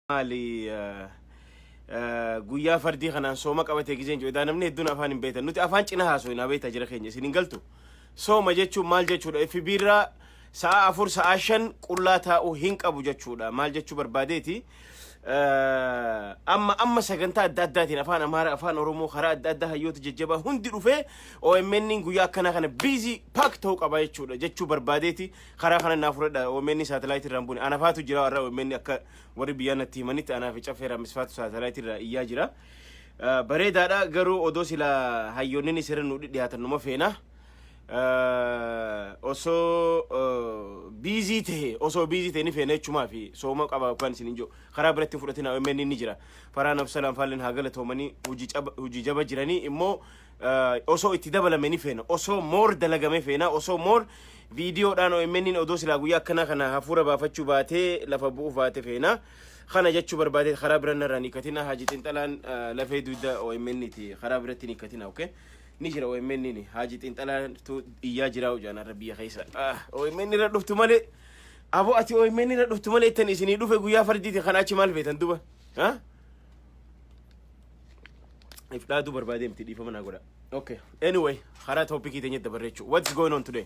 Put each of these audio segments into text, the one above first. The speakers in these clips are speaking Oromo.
maali guyyaa fardii kanaan sooma qabatee gizeen jedhu edaa namni hedduun afaan hin beekan nuti afaan cina haasoo hin beekta jira keenya isin hin galtu sooma jechuun maal jechuudha FB irraa Sa'aa afur sa'aa shan qullaa taa'uu hin qabu jechuudha. Maal jechuu barbaadeeti? Amma amma sagantaa adda addaatiin afaan Amaaraa, afaan Oromoo karaa adda addaa hayyoota jajjabaa hundi dhufee OMN guyyaa akkanaa kana biizii paak ta'uu qaba jechuudha. Jechuu barbaadeeti karaa kana naa fudhadha OMN saatalaayitii irraan buune. Anafaatu jira warra OMN akka warri biyyaa natti himanitti anaafi caffeeraa misfaatu saatalaayitii irraa iyyaa jira. Bareedaadha garuu odoo sila hayyoonninis irra nu dhiyaatan numa feena. osoo biizii ta'e osoo biizii ta'e ni feena jechumaa fi sooma qaba kan isin hin jiru karaa biratti hin fudhatin OMN ni jira faraa nabsalaan faalleen haa galatoomanii hojii jaba jiranii immoo osoo itti dabalame ni feena osoo moor dalagame feena osoo moor viidiyoodhaan OMN odoo silaa guyyaa akkanaa kana hafuura baafachuu baatee lafa bu'uuf baate feena kana jechuu barbaadee karaa biraa narraa ni katina haaji xinxalaan lafee dugda OMN ti karaa biratti ni katina okay ni jira OMN ni haaji xiinxalaatu iyyaa jiraa hojaan har'a biyya keessa Ah, OMN irra dhuftu malee aboo ati OMN irra dhuftu malee ittan isinii dhufe guyyaa fardiitiin kana achi maal feetan duba ha if dhaaduu barbaadee miti dhiifama naa godha okay anyway karaa toopikii teenya dabarre jechuu what's going on today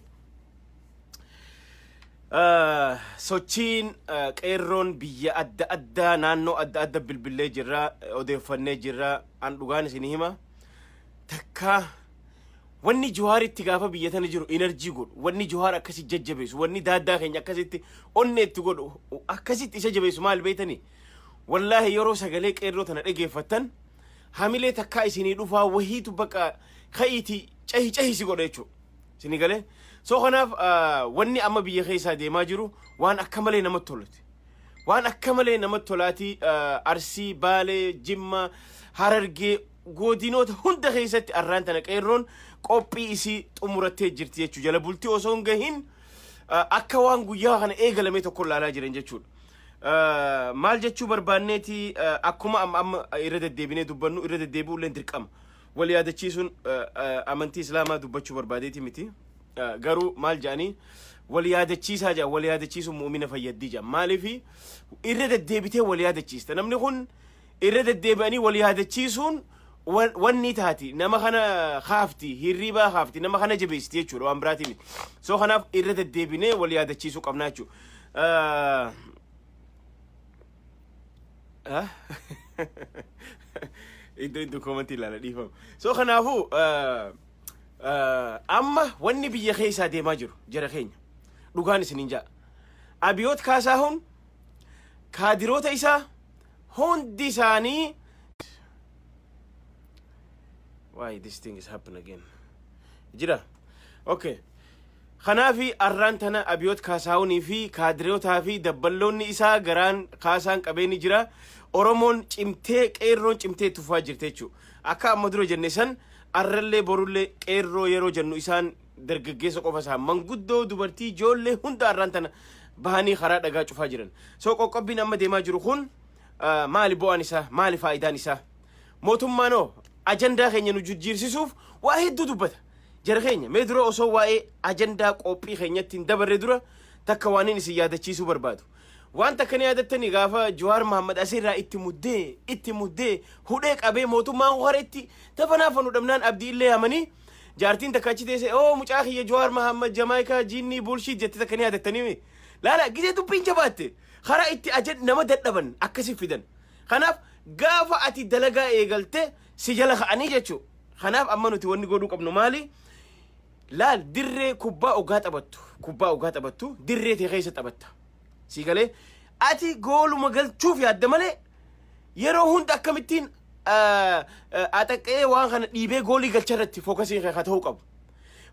Ah, sochiin ah, qeerroon biyya adda addaa naannoo adda adda bilbilee jirra odeeffannee jirra an dhugaan isin hima takkaa wanni Johaaritti gaafa biyya tana jiru enerjii godhu wanni Johaar akkasi jajjabeessu wanni daaddaa keenya akkasitti onnee itti godhu akkasitti isa jabeessu maal beektanii wallaahi yeroo sagalee qeerroo tana dhageeffattan hamilee takkaa isinii dhufaa wahiitu bakka ka'iitii cahi cahi si godha jechuudha. Isinii galee soo kanaaf ah, wanni amma biyya keessaa deemaa jiru waan akka malee namatti toluti. waan akka malee namatti tolaatii ah, arsii baalee jimma harargee Godinoota hunda keessatti arraan tana qeerroon qophii isii xumurattee jirti jechuu jala bultii osoo hin gahin akka waan guyyaa kana eegalamee tokko ilaalaa jiran jechuudha. Maal jechuu barbaanneeti akkuma amma amma irra deddeebinee dubbannu irra deddeebi'uu illee dirqama. Wal yaadachiisuun amantii islaamaa dubbachuu barbaadeeti miti. Garuu maal jedhanii wal yaadachiisaa jedhan wal yaadachiisuun mu'umina fayyaddii jedhan maaliif irra deddeebitee wal yaadachiista namni kun irra deddeebi'anii wal yaadachiisuun wan- wannii taati nama kana kaafti hirriibaa kaafti nama kana jabeessiti jechuudha waan biraatii miti soo kanaaf irra deddeebinee wal yaadachiisuu qabnaa jechuudha. Ah. Iddoo iddoo koomantii ilaala dhiifamu. So kanaafuu ah, ah, amma wanni biyya keessaa deemaa jiru jara keenya dhugaan isiniin ja'a. Abiyoot Kaasaahun kaadiroota isaa hundi isaanii why this thing is happen again jira okay kanaafi arraan tana abiyoot kaasaawunii fi kaadireewotaa fi dabballoonni isaa garaan kaasaan qabeeni jira oromoon cimtee qeerroon cimtee tufaa jirte jechuu akka amma dura jenne san arrallee borullee qeerroo yeroo jennu isaan dargaggeessa qofa isaa manguddoo dubartii ijoollee hunda arraan tana bahanii karaa dhagaa cufaa jiran. So qoqqobbiin amma deemaa jiru kun maali bu'aan isaa maali faayidaan isaa mootummaan hoo ajandaa keenya nu jijjiirsisuuf waa hedduu dubbata. Jara keenya mee dura osoo waa'ee ajandaa qophii keenyatti hin dabarre dura takka waan inni isin yaadachiisuu barbaadu. Waan takka ni yaadattanii gaafa Jawaar Mahammad asirraa itti muddee itti muddee hudhee qabee mootummaan horeetti tafanaa fanu dhabnaan abdii illee hamanii Jaartiin takka achi teessee oo mucaa kiyya Jawaar Mahammad Jamaayikaa jiinnii buulshiit jette takka ni yaadattanii mi? Laala gisee dubbiin jabaatte karaa itti ajan nama dadhaban akkasi fidan. Kanaaf gaafa ati dalagaa eegalte si jala ka'anii jechuu. Kanaaf amma nuti wanni godhuu qabnu maali? Laal dirree kubbaa ogaa taphattu kubbaa ogaa taphattu dirree tee keessa taphatta. Sii galee ati gooluma galchuuf yaadda malee yeroo hunda akkamittiin ah, ah, axaqqee waan kana dhiibee goolii galcha irratti fookasiin kee haa ta'uu qabu.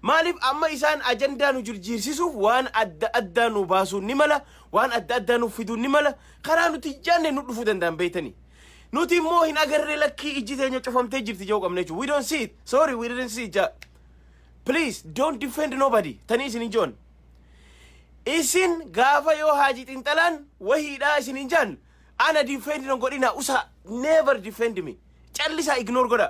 Maaliif amma isaan ajandaa nu jirjiirsisuuf waan adda addaa nu baasuun ni mala, waan adda addaa nuuf fiduun ni mala, karaa nuti hin jaanne nu dhufuu danda'an beektanii. Nuti immoo hin agarree lakkii ijji teenya cufamtee jirti jechuu qabna jechuudha. We don't see it. Sorry, we didn't see it. ja. Please don't defend nobody. Tanii isin hin joon. Isin gaafa yoo haaji xinxalaan wahiidhaa isiniin jaan ana defend hin godhina usa never defend me callisaa ignore godha.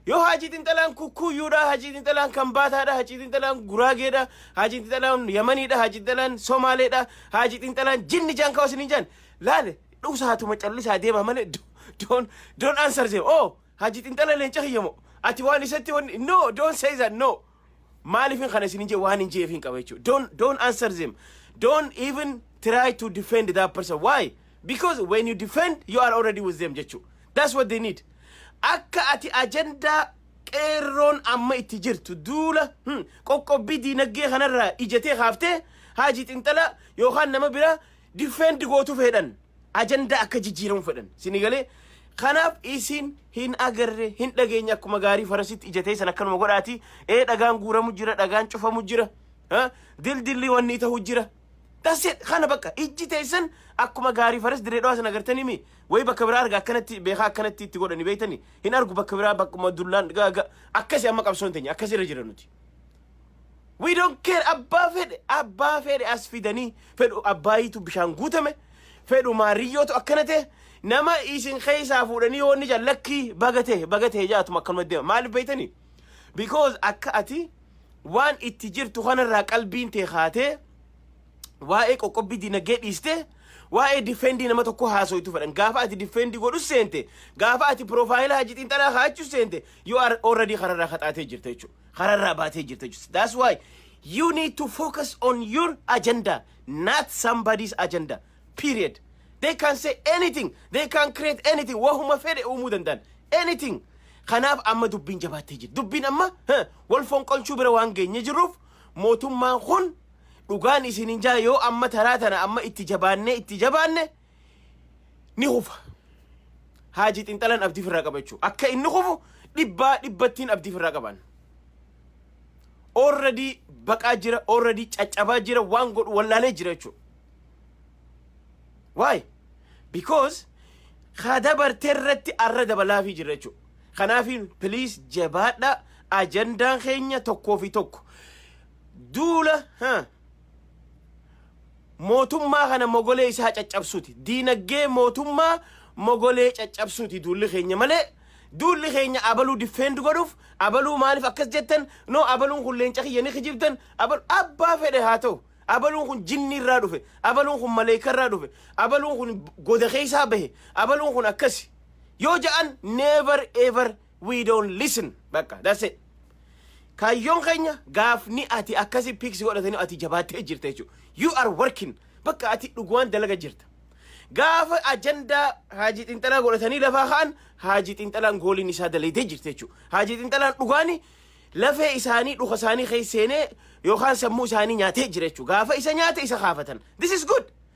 Yoo haaji xinxalaan kukkuyyuudha, haaji xinxalaan kambaataadha, haaji xinxalaan guraageedha, haaji xinxalaan yamaniidha, haaji xinxalaan somaaleedha, haaji xinxalaan jinni jaan kawa isiniin jaan laale dhusaatuma callisaa deemaa malee do- don't don't answer them. Oh haaji xinxala leenca kiyya moo ati waan isatti wanni no don't say that no Maalifin kana isinin jee waan hin jeefin qaba jechuudha. Don't, don't answer them. Don't even try to defend that person. Why? Because when you defend, you are already with them jechuudha. That's what they need. Akka ati ajandaa qeerroon amma itti jirtu duula hmm, qoqqobbii diinagdee kanarraa ijatee kaaftee haajii xinxala yookaan nama biraa Defend gootu fedhan. Ajandaa akka jijjiiramu fedhan. Sini galee kanaaf isin hin agarre hin dhageenye akkuma gaarii farasitti ija teessan akkanuma godhaati. Ee dhagaan guuramu jira dhagaan cufamu jira. Ha? Dildilli wanni ta'u jira. That's it. Kana bakka ijji teessan akkuma gaarii faras dirree dhawaa sana agartanii mi? Wayi bakka biraa arga akkanatti beekaa akkanatti itti godhani beektani. Hin argu bakka biraa bakkuma dullaan gaaga akkasi amma qabsoon teenya akkasi irra jira nuti. We don't care abbaa fedhe abbaa fedhe as fidanii fedhu abbaayiitu bishaan guutame fedhu maariyyootu akkana ta'e nama isin keessaa fuudhanii yoo inni jaan lakkii baga ta'e baga ta'e jaatuma akkanuma deema maaliif beektanii? Because akka ati waan itti jirtu kanarraa qalbiin tee kaatee waa'ee qoqqobbii dinagdee dhiistee waa'ee difeendii nama tokko haasoitu fedhan gaafa ati difeendii godhu seente gaafa ati piroofaayila hajji xiinxalaa kaa'achuu seente yoo already kanarraa kaxaatee jirta jechuudha. kararraa baatee jirta jechuudha. That's why you need to focus on your agenda, not somebody's agenda. Period. They can say anything. They can create anything. Wahuma fedhe uumuu danda'an. Anything. Kanaaf amma dubbiin jabaattee jirti. Dubbiin amma huh, wal fonqolchuu bira waan geenye jirruuf mootummaan kun dhugaan isinin jaa yoo amma taraa tana amma itti jabaannee itti jabaanne ni hufa. Haaji xinxalan abdii firraa qaba jechuudha. Akka inni hufu dhibbaa dhibbattiin abdii firraa qaban. Already baqaa jira, already caccabaa jira, waan godhu wallaalee jira jechuudha. Why? Because haa dabartee irratti arra dabalaafii jira jechuudha. Kanaafiin please jabaadha ajandaan keenya tokkoo fi tokko. Duula ha mootummaa kana mogolee isaa caccabsuuti. Diinaggee mootummaa mogolee caccabsuuti duulli keenya malee duulli keenya abaluu diffeendu godhuuf abaluu maaliif akkas jettan noo abaluun kun leenca kiyya ni kijibdan abal abbaa fedhe haa ta'u abaluun kun jinnii irraa dhufe abaluun kun maleekaa irraa dhufe abaluun kun goda keessaa bahe abaluun kun akkasi yoo ja'an never ever we don't listen bakka that's it kaayyoon keenya gaafni ati akkasi piiksi godhatanii ati jabaattee jirta jechuudha you are working bakka ati dhugumaan dalaga jirta gaafa ajandaa haajii xinxalaa godhatanii lafaa ka'an haajii xinxalaan gooliin isaa dalaydee jirti jechuudha haajii xinxalaan dhugaani lafee isaanii dhuka isaanii keessa seenee yookaan sammuu isaanii nyaatee jira jechuudha gaafa isa nyaate isa kaafatan this is good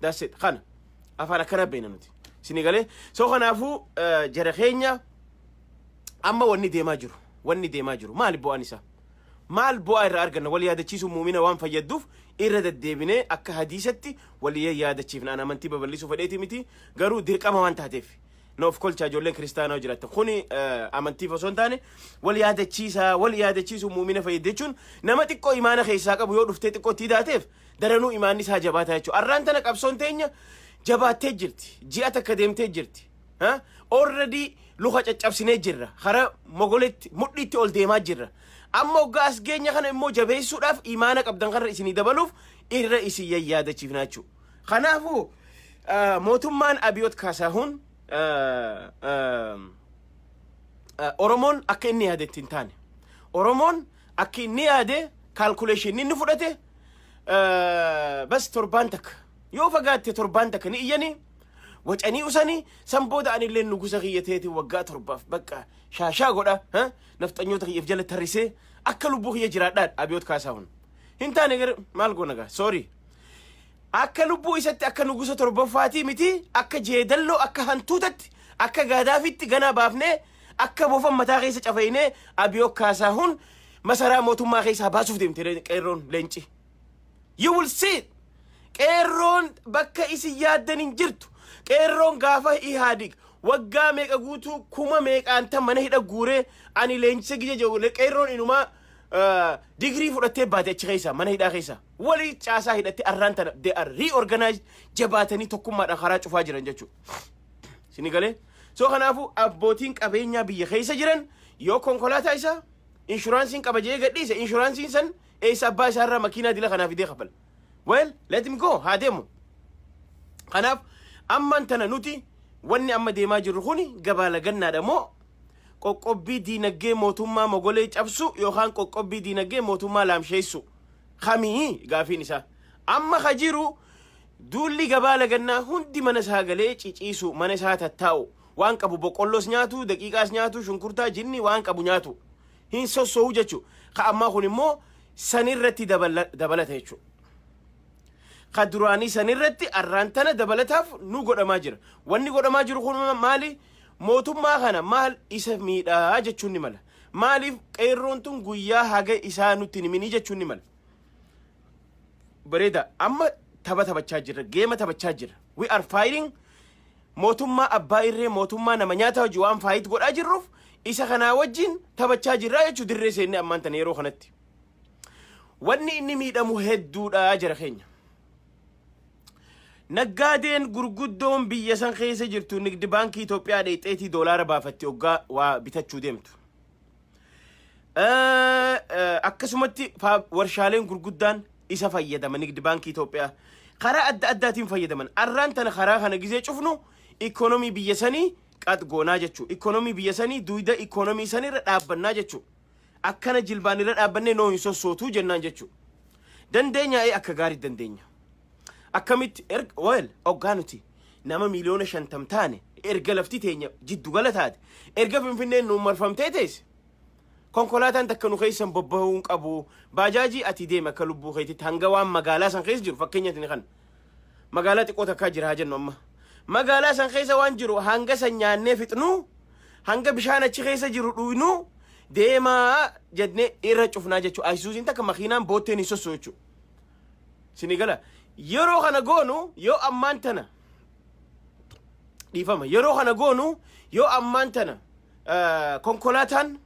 That's it. Kana. Afaan akkana beekna nuti. Isin galee. So kanaafuu eh, jara keenya amma wanni deemaa jiru. Wanni deemaa jiru. Maali bu'aan isaa? Maal bu'aa irraa arganna? Wal yaadachiisuun muumina waan fayyadduuf irra deddeebinee akka hadiisatti wal yaadachiifna. An amantii babal'isuu fedheeti miti. Garuu dirqama waan taateef. Na of kolchaa ijoolleen kiristaanaa jiraatan. Kuni eh, amantiif osoo hin taane wal yaadachiisaa, wal yaadachiisuun muumina fayyadde jechuun nama xiqqoo imaana keessaa qabu yoo dhuftee xiqqoo itti hidhaateef daranuu imaanni isaa jabaataa jechuudha. Arraan tana qabsoon teenya jabaattee jirti. Ji'a takka deemtee jirti. Already luka caccabsinee jirra. Hara mogoletti mudhiitti ol deemaa jirra. Amma oggaa as geenya kana immoo jabeessuudhaaf imaana qabdan kanarra isinii dabaluuf irra isin yayyaadachiifnaa jechuudha. Kanaafuu mootummaan Abiyoot Kaasaahuun Oromoon akka inni yaadetti hin taane. Oromoon Akki inni yaade calculation inni fudhate eh, bas torbaan takka yoo fagaatte torbaan takka ni iyyanii wacanii usanii san booda anillee nugusa kiyya teetiin waggaa torbaaf bakka shaashaa godha ha? nafxanyoota kiyyaaf jala tarrisee akka lubbuu kiyya jiraadhaan abiyoot kaasaahun hin taane gara maal goona gaa soorii akka lubbuu isatti akka nugusa torbaffaatii miti akka jeedalloo akka hantuutatti akka gaadaafitti ganaa baafnee Akka bofan mataa keessa cafeynee Abiyoo Kaasaahun masaraa mootummaa keessaa baasuuf deemte re- qeerroon leenci. You will see it. Qeerroon bakka isin yaaddan hin jirtu. Qeerroon gaafa Ihaadig waggaa meeqa guutuu kuma meeqaan tan mana hidha guuree ani leenjisa gija jiru qeerroon inumaa ah, digirii fudhattee baate achi keessaa mana hidhaa keessaa. Walii caasaa hidhattee arraan tana they are reorganized jabaatanii tokkummaadhaan karaa cufaa jiran jechuudha. Sini galee? So kanaafuu abbootiin qabeenyaa biyya keessa jiran yoo konkolaataa isaa inshuraansiin qaba jedhee gadhiise inshuraansiin san eessa abbaa isaa irraa makiinaa dila kanaa fidee kafala. Well, let him go haa deemu. Kanaaf ammaan tana nuti wanni amma deemaa jirru kuni gabaa lagannaadha moo qoqqobbii diinagdee mootummaa mogolee cabsu yookaan qoqqobbii diinagdee mootummaa laamsheessu kamii gaafiin isaa amma ka jiru Duulli gabaa lagannaa hundi mana isaa galee ciciisu, mana isaa tattaa'u, waan qabu boqqolloos nyaatu, daqiiqaas nyaatu, shunkurtaa, jinni waan qabu nyaatu. Hin sosso'u jechu. Ka ammaa kun immoo san irratti dabala- dabalata jechu. Ka duraanii san irratti arraan tana dabalataaf nu godhamaa jira. Wanni godhamaa jiru kun maali? Mootummaa kana maal isa miidhaa jechuun ni mala. Maaliif qeerroon tun guyyaa haga isaa nutti hin himinii jechuun ni mala. bareeda amma tapha taphachaa jirra geema taphachaa jirra we are fighting mootummaa abbaa irree mootummaa nama nyaataa hojii waan faayit godhaa jirruuf isa kanaa wajjin taphachaa jirraa jechuu dirree seennee ammaan tana yeroo kanatti wanni inni miidhamu hedduudha jara keenya naggaadeen gurguddoon biyya san keessa jirtu nigdi baankii Itoophiyaa dheexxeetii doolaara baafatti oggaa waa bitachuu deemtu Eh, eh, akkasumatti faa- warshaaleen gurguddaan isa fayyadama nigdi baankii Itoophiyaa karaa adda addaatiin fayyadaman arraan tana karaa kana gizee cufnu ikoonomii biyya sanii qaxgoonaa jechuu ikoonomii biyya sanii duwida ikoonomii sanirra dhaabbannaa jechuu akkana jilbaan irra dhaabbannee noo hin sossootuu jennaan jechuu dandeenya ee akka gaarii dandeenya akkamitti erga wal oggaa nuti nama miiliyoona shantam taane erga lafti teenya jiddu gala taate erga finfinneen nuun marfamtee teesse konkolaataan takka nu keessan bobba'uu hin qabu baajaajii ati deeme akka lubbuu keetitti hanga waan magaalaa san keessa jiru fakkeenyatti ni kana magaalaa xiqqoo takkaa jira haa jennu amma magaalaa san keessa waan jiru hanga san nyaannee fixnu hanga bishaan achi keessa jiru dhuynu deemaa jennee irra cufnaa jechuudha ayisuusiin takka makiinaan bootteen hin sossoo'u jechuudha. Sini gala. Yeroo kana goonu yoo ammaan tana dhiifama. Yeroo kana goonu yoo ammaan tana eh, konkolaataan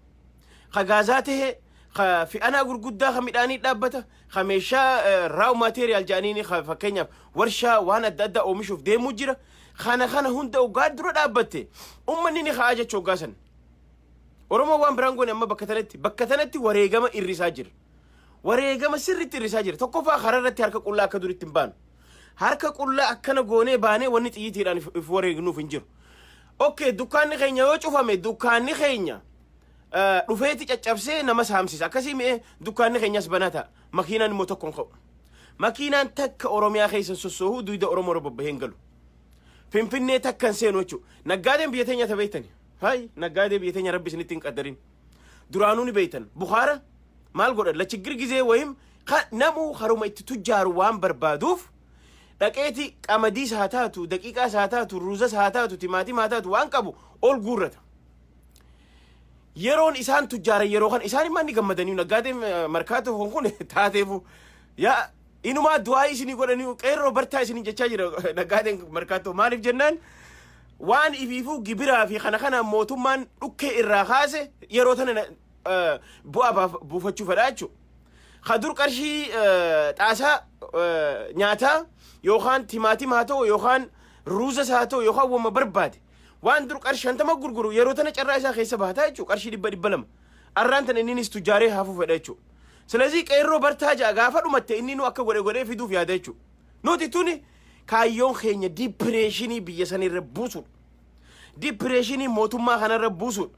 ka gaazaa ta'e ka fe'anaa gurguddaa ka midhaanii dhaabbata ka meeshaa eh, raaw maateeriyaal jedhaniin ka fakkeenyaaf warshaa waan adda addaa oomishuuf deemuu jira. Kana kana hunda ogaa dura dhaabbatte ummanni ni ka'aa jechuu ogaa sana. Oromoo waan biraan goone amma bakka tanatti bakka tanatti wareegama irrisaa jira. Wareegama sirriitti hir'isaa jira. Tokkoffaa karaa irratti harka qullaa akka duritti hin baanu. Harka qullaa akkana goonee baanee wanni xiyyitiidhaan if if wareegnuuf hin jiru. Okkee dukkaanni keenya yoo cufame dukkaanni keenya eh, dhufeeti caccabsee nama saamsisa. Akkasii mi'ee dukkaanni keenyas banaa ta'a. Makiinaan immoo tokko hin ka'u. Makiinaan takka Oromiyaa keessa hin sossoohu duyda Oromoo irra bobba'ee hin galu. Finfinnee takka hin seenu jechuudha. Naggaadeen biyya teenya tabeettani. Hayi naggaadee biyya teenya rabbi isinitti hin qaddarin. Duraanuu ni beeytan. Bukhaara maal godhan? Lachiggir gizee wayim namuu haruma itti tujjaaru waan barbaaduuf dhaqeeti qamadiis haa taatu, daqiiqaas haa taatu, ruuzas haa taatu, timaatima haa taatu waan qabu ol guurrata. Yeroon isaan tujjaaran yeroo kana isaan immoo ni gammadanii naggaadeen markaatoo kun kun taateefu yaa Inumaa du'aa isinii godhanii qeerroo bartaa isiniin jechaa jira naggaadeen markaattoo maaliif jennaan waan ifiifuu gibiraa fi kana kanaan mootummaan dhukkee irraa kaase yeroo tana na- eh, bu'aa baaf- buufachuu fedhaa jechuudha. Ka dur qarshii eh, xaasaa eh, nyaataa yookaan timaatima haa ta'u yookaan ruuzas haa ta'u yookaan wama barbaade waan dur qarshii shantama gurguru yeroo tana carraa isaa keessa bahataa jechuudha qarshii dhibba dhibba lama. Arraan tana inninis tujjaaree haafuu fedha jechuudha. Silazii qeerroo bartaa ja'a gaafa dhumatte inni nu akka godhe godhee fiduuf yaada jechuudha. Nuti tuni kaayyoon keenya dipireeshinii biyya san irra buusuudha. Dipireeshinii mootummaa kanarra buusuudha.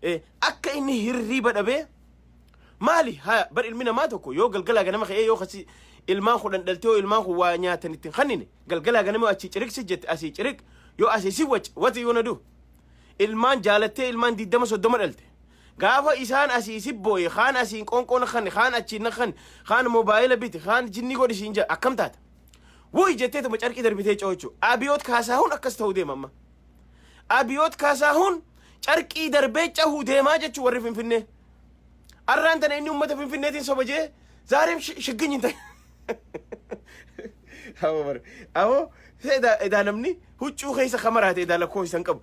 Eh, Akka inni hirriiba dhabee maali haa bar ilmi namaa tokko yoo galgalaa ganama ka'ee yoo kasi ilmaan kudhan dhaltee yoo ilmaan kun waa nyaatan ittiin kannine galgalaa ganama yoo achii ciriq si jette asii ciriq yoo asii si wac wati yoo na du ilmaan jaalattee ilmaan diddama soddoma dhalte Gaafa isaan asii si booye, kaan asiin qoonqoo na kanne, kaan achiin na kanne, kaan moobaayila biti, kaan jinnii godhi siin jedha akkam taata? Wuy jetteetuma carqii darbitee coochu. Abiyoot Kaasaahun akkas ta'uu deema amma. Abiyoot Kaasaahun carqii darbee cahuu deemaa jechuu warri Finfinnee. Arraan tana inni uummata Finfinneetiin soba jee zaareem shi- shigginyi hin ta'e. Hawa bara. Hawa edaa edaa namni huccuu keessa kamaraate edaa lakkoo isan qabu.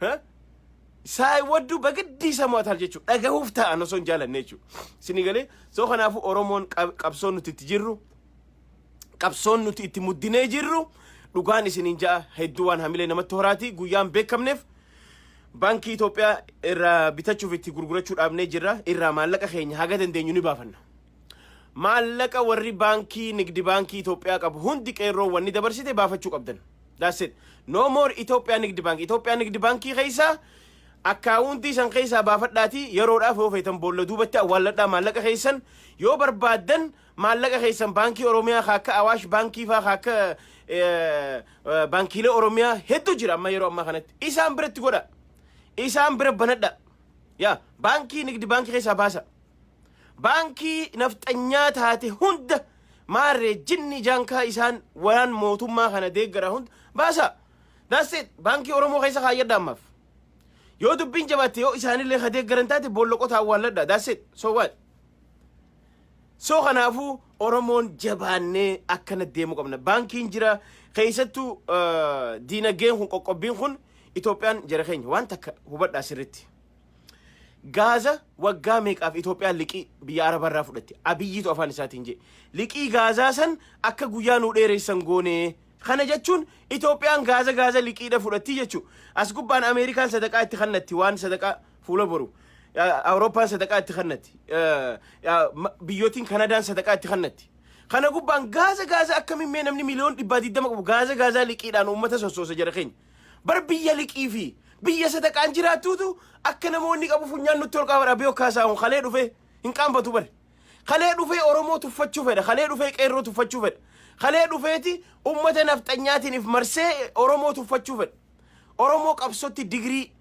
Ha? Saay wadduu bagiddii isa mo'atal jechuudha. Dhagahuuf taa'an osoo hin jaalanne jechuudha. Isinii galee soo kanaafuu Oromoon qab- qabsoon nuti itti jirru qabsoon nuti itti muddinee jirru dhugaan isiniin ja'a hedduu waan hamilee namatti horaati guyyaan beekamneef baankii Itoophiyaa irraa bitachuuf itti gurgurachuu dhaabnee jirra irraa maallaqa keenya haga dandeenyu ni baafanna. Maallaqa warri baankii Nigdi Baankii Itoophiyaa qabu hundi qeerroon wanni dabarsite baafachuu qabdan. That's it. No more Itoophiyaa Nigdi Baankii. Itoophiyaa Nigdi Baankii keessaa akkaawuntii san keessaa baafadhaatii yeroodhaaf yoo feetan boolla duubatti awwaalladhaa maallaqa keessan yoo barbaaddan maallaqa keessan baankii Oromiyaa haa akka Awaash baankii faa haa akka eh, eh, baankiilee Oromiyaa hedduu jira amma yeroo ammaa kanatti. Isaan biratti godha. Isaan bira banadha. Yaa baankii Nigdi Baankii keessaa baasa. Baankii nafxanyaa taate hunda maarree jinni jaankaa isaan waraan mootummaa kana deeggaraa hunda baasaa. That's it. Baankii Oromoo keessa kaayyadha ammaaf. Yoo dubbiin jabaatte yoo isaanillee ka deeggaran taate boolla qotaa awwaalladha. That's it. So what? So kanaafuu Oromoon jabaannee akkana deemuu qabna. Baankiin jira keessattuu eh, diinagdeen kun qoqqobbiin kun Itoophiyaan jara keenya waan takka hubadhaa sirriitti. Gaaza waggaa meeqaaf Itoophiyaan liqii biyya Arabaa irraa fudhatte? Abiyyiitu afaan isaatiin jedhe. Liqii Gaazaa san akka guyyaa nuu dheeressan goonee. Kana jechuun Itoophiyaan Gaaza Gaaza liqiidha fudhattii jechuu. As gubbaan Ameerikaan sadaqaa itti kannatti waan sadaqaa fuula boru. Awurooppaan sadaqaa itti kannatti. Biyyootiin Kanadaan sadaqaa itti kannatti. Kana gubbaan Gaaza Gaaza akkamiin mee namni miliyoon dhibbaa digdama qabu Gaaza Gaaza liqiidhaan uummata sossoosa jara keenya. Bar biyya liqii fi biyya sadaqaan jiraattuutu akka namoonni qabu funyaan nutti ol qaabara abiyoo kaasaahun kalee dhufee hin qaanfatu bari. Kalee dhufee Oromoo tuffachuu fedha. Kalee dhufee qeerroo tuffachuu fedha. Kalee dhufeeti ummata nafxanyaatiin if marsee Oromoo tuffachuu fedha. Oromoo qabsotti digirii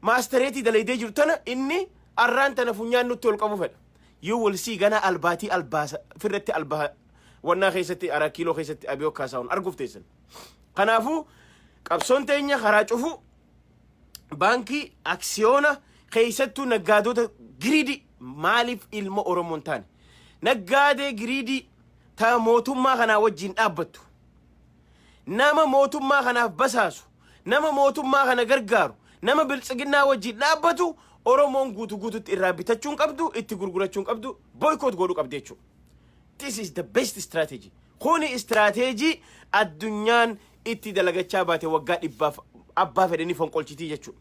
maastereetii dalaydee jiru tana inni arraan tana funyaan nutti ol qabu fedha. You will see gana albaatii albaasa firratti albaa wannaa keessatti araa kiiloo keessatti abiyoo kaasaahun arguuf teessan. Kanaafuu qabsoon teenya karaa cufuu baankii aksiyoona keessattuu naggaadota giriidii maaliif ilma Oromoon taane naggaadee giriidii ta mootummaa kanaa wajjin dhaabbattu nama mootummaa kanaaf basaasu nama mootummaa kana gargaaru nama biltsiginnaa wajjin dhaabbatu Oromoon guutu guututti irraa bitachuun qabdu itti gurgurachuun qabdu boykoot godhu qabdi jechuudha. This is the best strategy. Kuni istiraateejii addunyaan itti dalagachaa baate waggaa dhibbaaf abbaa fedhe ni fonqolchitii jechuudha.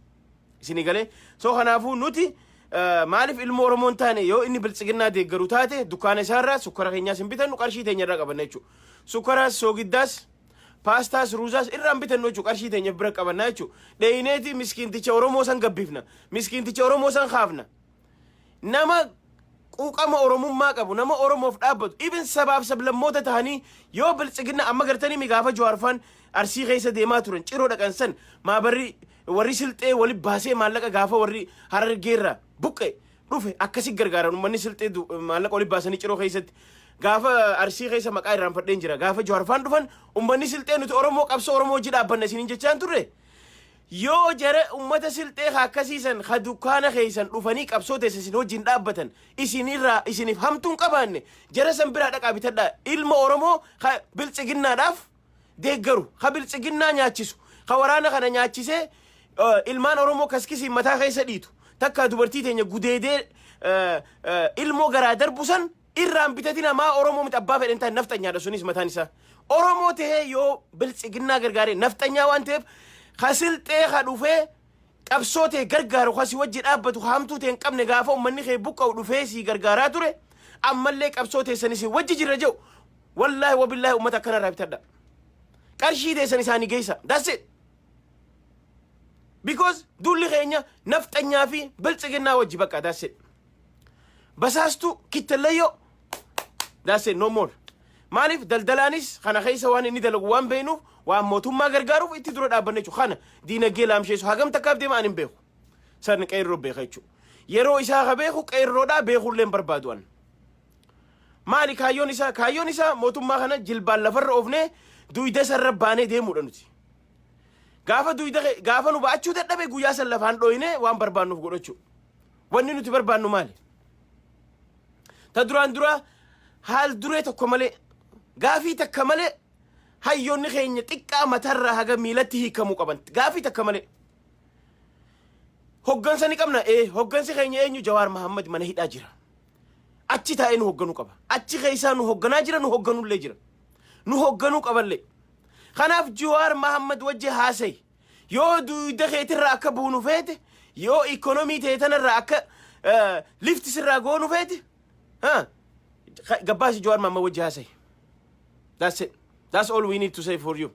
Isinii galee? So kanaafuu nuti eh, maaliif ilmoo Oromoo hin taane yoo inni biltsiginnaa deeggaru taate dukkaana isaarraa sukkara keenyaas hin bitannu qarshii teenya irraa qabanna jechuudha. Sukkaraas, soogiddaas, paastaas, ruuzaas irraa hin bitannu jechuudha qarshii teenya bira qabanna jechuudha. Dheeyineeti miskiinticha Oromoo san gabbifna. Miskiinticha Oromoo san kaafna. nama quuqama oromummaa qabu nama oromoof dhaabbatu even sabaaf sablammoota tahanii yoo biltsiginna amma gartanii mi gaafa jawaarfaan arsii keessa deemaa turan ciroo dhaqan san maabarri warri silxee wali baasee maallaqa gaafa warri harargeerra buqqe dhufe akkasi gargaaran ummanni silxee du- maallaqa wali baasanii ciroo keessatti gaafa arsii keessa maqaa irraanfadheen jira gaafa jawaarfaan dhufan ummanni silxee nuti oromoo qabsoo oromoo hojii dhaabbanna isiniin jechaan turre Yoo jara ummata silxee ka akkasii san ka dukkaana keessan dhufanii qabsoo teessa isin wajjin dhaabbatan isin irraa isiniif hamtuu hin qabaanne jara san biraa dhaqaa bitadhaa ilma Oromoo ka biltsiginnaadhaaf deeggaru ka biltsiginnaa nyaachisu ka waraana kana nyaachisee eh, ilmaan Oromoo kaskisiin mataa keessa dhiitu takkaa dubartii teenya gudeedee eh, eh, ilmoo garaa darbu san irraan biteti namaa oromoo miti abbaa fedhen ta'e nafxanyaadha sunis mataan isaa oromoo ta'ee yoo biltsiginnaa gargaaree nafxanyaa waan ta'eef ka silxee ka dhufee qabsoo ta'e gargaaru ka si wajji dhaabbatu ka hamtuu ta'e hin qabne gaafa ummanni kee buqqa'u dhufee sii gargaaraa ture ammallee qabsoo teessan isin wajji jirra jedhu wallaahi wabillaahi ummata akkana irraa bitadha qarshii teessan isaanii geessa that's it because duulli keenya nafxanyaa fi biltsiginnaa wajji bakka that's it Basaastuu kittallayyoo that's it no more. Maaliif daldalaanis kana keessa waan inni dalagu waan beeknuuf waan mootummaa gargaaruuf itti dura dhaabbanne jechuudha. Kana diinagdee laamsheessu hagam takkaaf deema ani hin beeku. Sarni qeerroo beeka jechuudha. Yeroo isaa ka beeku qeerroodhaa beekullee hin barbaadu an. Maali kaayyoon isaa? Kaayyoon isaa mootummaa kana jilbaan lafarra oofnee duyda sarra baanee deemuudha nuti. Gaafa duyda kee- gaafa nu ba'achuu dadhabe guyyaa san lafaan dhooyinee waan barbaannuuf godhachuu. Wanni nuti barbaannu maali? Ta duraan dura haal duree tokko malee gaafii takka malee hayyoonni keenya xiqqaa matarraa haga miilatti hiikamuu qaban gaafii takka malee. Hoggansa ni qabna ee hoggansi keenya eenyu Jawaar Mahammad mana hidhaa jira. Achi taa'ee nu hogganuu qaba. Achi keessaa nu hogganaa jira nu hogganullee jira. Nu hogganuu qaballee. Kanaaf Jawaar Mahammad wajji haasayi. Yoo duuyda keetirraa akka buunu feete, yoo ikkonomii ta'e tanarraa akka lifti sirraa goonu feete, ha, ka- gabbaasi Jawaar Maammaa wajji haasa'i. That's it. That's all we need to say for you.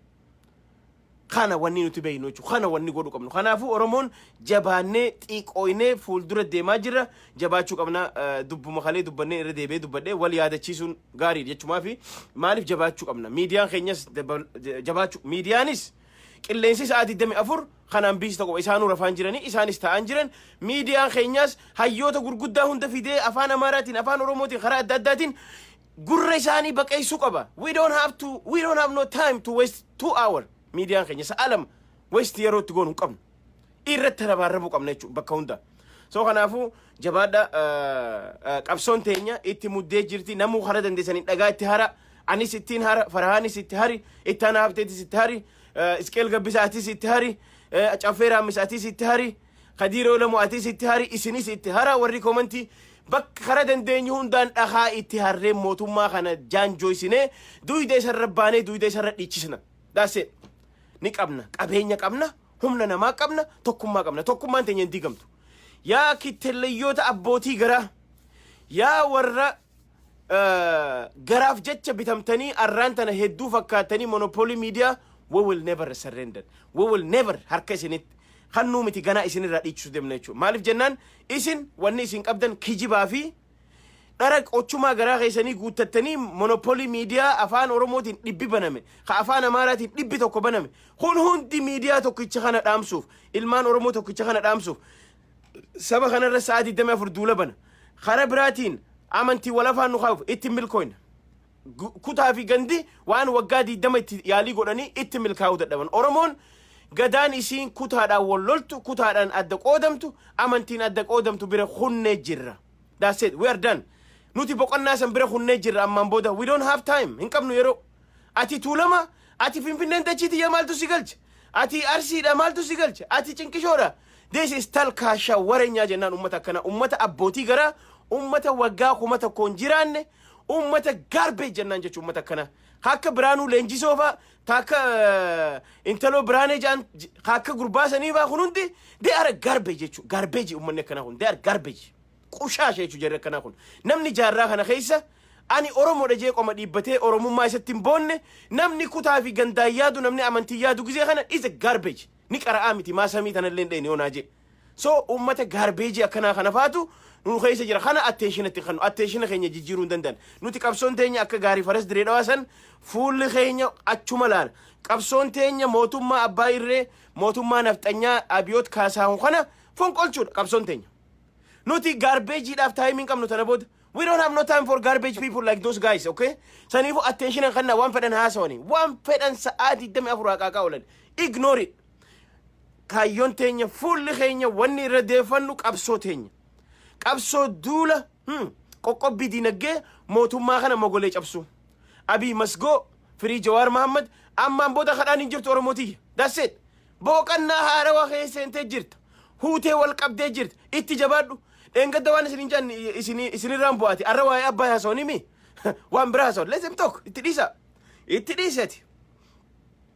Kana wanni nuti beeknu jechuudha. Kana wanni godhu qabnu. Kanaafuu Oromoon jabaannee xiiqooynee fuuldura deemaa jirra. Jabaachuu qabna. Eh, Dubbuma kalee dubbannee irra deebi'ee dubbadhee wal yaadachiisuun gaariidha jechumaa fi maaliif jabaachuu qabna? Miidiyaan keenyas dabal- jabaachuu miidiyaanis Qilleensi sa'aa 24 kanaan biista qofa. Isaanuu rafaan jiranii, isaanis taa'aan jiran. Miidiyaan keenyaas hayyoota gurguddaa hunda fidee afaan Amaaraatiin, afaan Oromootiin, karaa adda addaatiin gurra isaanii baqeessuu qaba. We don't have to, we don't have no time to waste two hour. Miidiyaan keenya sa'a lama waste yeroo itti goonu hin qabnu. irratti rabaarrabuu qabna jechuudha bakka hunda. So kanaafuu jabaadha qabsoon teenya itti muddee jirti namuu hara dandeessanii dhagaa itti hara anis ittiin hara farahaanis itti hari itti ana habteetis itti hari isqeel gabbisa atis itti hari caffee raammis atis itti hari kadiiroo lamu atis itti hari isinis itti hara warri komantii bakka hara dandeenyu hundaan dhagaa itti harree mootummaa kana jaanjooysinee duuyda isarra baanee duuyda isarra dhiichisna. Daasee ni qabna qabeenya qabna Humna namaa qabna, tokkummaa qabna. Tokkummaan teenya hin diigamtu. Yaa kittellayyoota abbootii garaa, yaa warra eh, garaaf jecha bitamtanii arraan tana hedduu fakkaattanii monopoolii miidiyaa we will never surrender. We will never harka isinitti hannuu miti ganaa isinirraa dhiichisuu deemna jechuudha. Maaliif jennaan isin wanni isin qabdan kijibaa fi Dhara qochumaa garaa keessanii guuttattanii monopolii miidiyaa afaan Oromootiin dhibbi baname, ka afaan Amaaraatiin dhibbi tokko baname, kun hundi miidiyaa tokkicha kana dhaamsuuf, ilmaan Oromoo tokkicha kana dhaamsuuf, saba kanarra sa'a 24 duula bana. Kara biraatiin amantii wal afaan nu kaa'uuf itti hin milkooyne. gu- kutaa fi gandi waan waggaa 20 itti yaalii godhanii itti milkaa'uu dadhaban. Oromoon gadaan isiin kutaadhaan wal loltu, kutaadhaan adda qoodamtu, amantiin adda qoodamtu bira kunnee jirra. That's it. We are done. Nuti boqonnaa san bira kunnee jirra ammaan booda. We don't have time. Hin qabnu yeroo. Ati tuulama, ati finfinneen dachii tiyya maaltu si galche? Ati arsiidha maaltu si galche? Ati cinqishoodha. This is talkaasha warenyaa jennaan ummata akkana. Ummata abbootii garaa, ummata waggaa kuma tokkoon jiraanne, Uummata garbage jennaan jechuun uummata akkana. Akka Biraanuu Leenjisoo fa'a, akka intaloo Biraanee ja'an, akka gurbaa sanii fa'a kun hundi they are garbage jechuudha. Garbage uummanni akkanaa kun they are garbage. Qushaasha jechuudha jarri akkanaa kun. Namni jaarraa kana keessa ani Oromoodha jee qoma dhiibbatee Oromummaa isatti hin boonne namni kutaa fi gandaan yaadu namni amantii yaadu gizee kana is a garbage. Ni qara'aa miti maa samii tanallee hin dhayne onaa jee. So uummata gaarbeejii akkanaa kana faatu nu keessa jira. Kana attention itti kennu. Attention keenya jijjiiruu hin danda'an. Nuti qabsoon teenya akka gaarii faras diree dhawaa san fuulli keenya achuma laala. Qabsoon teenya mootummaa abbaa irree mootummaa nafxanyaa abiyoot kaasaahun kana fonqolchuudha qabsoon teenya. Nuti gaarbeejiidhaaf taayimiin qabnu tana booda. We don't have no time for garbage people like those guys, okay? Saniifuu attention hin kenna waan fedhan haasawanii. Waan fedhan sa'aa 24 haqaaqaa oolan. Ignore it. Kaayyoon teenya fuulli keenya wanni irra deeffannu qabsoo teenya. Qabsoo duula hmm, qoqqobbii diinagdee mootummaa kana mogolee cabsuu. Abiy Masgoo, Firii Jawaar Mahammad, ammaan booda kadhaan hin jirtu Oromoo tiyya. That's it. Booqannaa haarawaa kee seentee jirta. Huutee wal qabdee jirta. Itti jabaadhu. Dheengadda waan isin hin jaan isinirraan bu'aati. Arra waa'ee abbaa haasawanii mi? Waan biraa haasawan. Let them talk. Itti dhiisa. Itti dhiisati.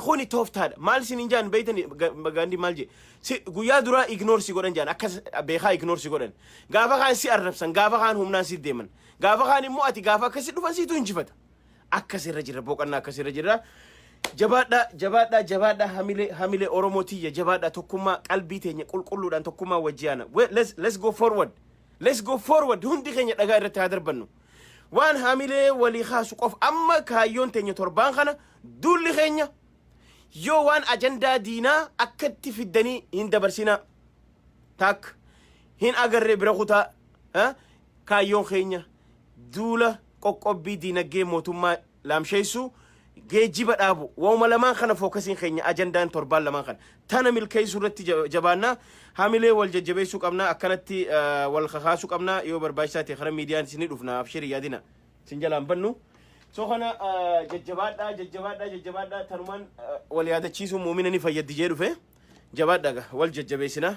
Kuni tooftaadha. Maal isiniin jaan beeytan gaandii maal jee. Si guyyaa duraa ignore si godhan jaan akka beekaa ignore si godhan. Gaafa kaan si arrabsan gaafa kaan humnaan si deeman. Gaafa kaan immoo ati gaafa akkasi dhufan siitu injifata. Akkas irra jirra boqannaa akkas irra jirra. Jabaadhaa jabaadhaa jabaadhaa hamilee hamilee Oromoo tiyya jabaadhaa tokkummaa qalbii teenya qulqulluudhaan tokkummaa wajji aana. We- Let's let's go forward. Let's go forward hundi keenya dhagaa irratti haa darbannu. Waan hamilee walii kaasu qofa amma kaayyoon teenya torbaan kana Duulli keenya yoo waan ajandaa diinaa akkatti fiddanii hin dabarsinaa. Taak hin agarree bira kutaa ha? kaayyoon keenya duula qoqqobbii diinagdee mootummaa laamsheessuu geejjiba dhaabu wauma lamaan kana fookasiin keenya ajandaan torbaan lamaan kana tana milkeessuu irratti ja- jabaannaa hamilee wal jajjabeessuu qabnaa akkanatti eh, wal kakaasuu qabnaa yoo barbaachisaa ta'e karaa miidiyaanis ni dhufna abshirii yaadina. Sin jalaan bannu. So kana jajjabaadhaa jajjabaadhaa jajjabaadhaa tanumaan wal yaadachiisuun muumina ni fayyaddi jee dhufe jabaadhaa ga wal jajjabeessinaa.